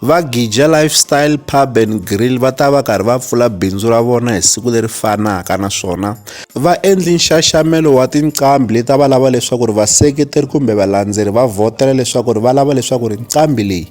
Va Gija Lifestyle Pub and Grill va ta va karhi va pfula bindzu ra vona hi siku leri fanaka naswona va endli nxaxamelo wa tinqambi leti a va lava leswaku ri vaseketeri kumbe valandzeri va vhotela leswaku ri va lava leswaku ri nqambi leyi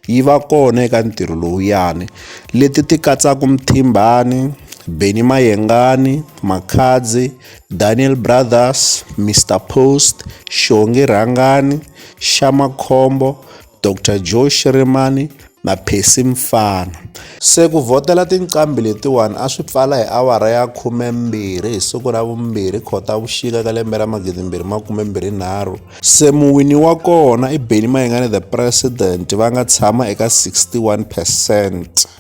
yi va kona eka ntirho lowuyani leti ti katsaka Mthimbani Benny Mayengani Makhadzi Daniel Brothers Mister Post Xongi Rhangani Xamakhombo Dr Joe Shirimani na Percy Mfana. Se ku vhotela tinqambi letiwani a swi pfala hi awara ya khumembirhi hi siku ra vumbirhi Khotavuxika ka lembe ra magidimbirhi makumembirhi nharhu. Se muwini wa kona i Benny Mayengani The President va nga tshama eka 61 percent.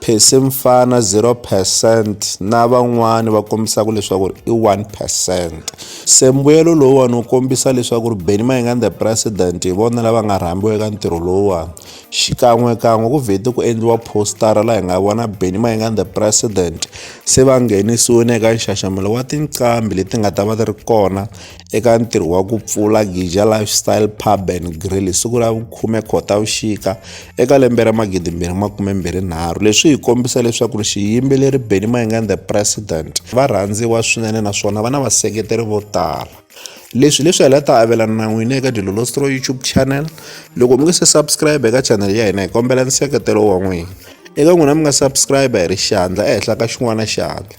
Percy Mfana 0 percent na van'wani va kombisaka leswaku ri i 1 percent se mbuyelo lowuwani wu kombisa leswaku ri Benny Mayengani the president hi vona lava nga rhambiwa eka ntirho lowuwani xikan'wekan'we ku vhete ku endliwa postara laha hi nga vona Benny Mayengani the president se va nghenisiwile eka nxaxamelo wa tinqambi leti nga ta va ti ri kona eka ntirho wa ku pfula Gija Lifestyle Pub and Grill hi siku ra vukhume Khotavuxika eka lembe ra magidi mbirhi makume mbirhi nharhu leswi hi kombisa leswaku ri xiyimbeleri Benny Mayengani the president va rhandziwa swinene naswona va na vaseketeri vo tala leswi leswi hela ta avelana na n'wina eka dilolostro youtube channel loko mi nge se subscribe eka channel ya hina hi kombela nseketelo wa n'wina eka n'wina mi nga subscribe hi ri xandla ehenhla ka xin'wana xandla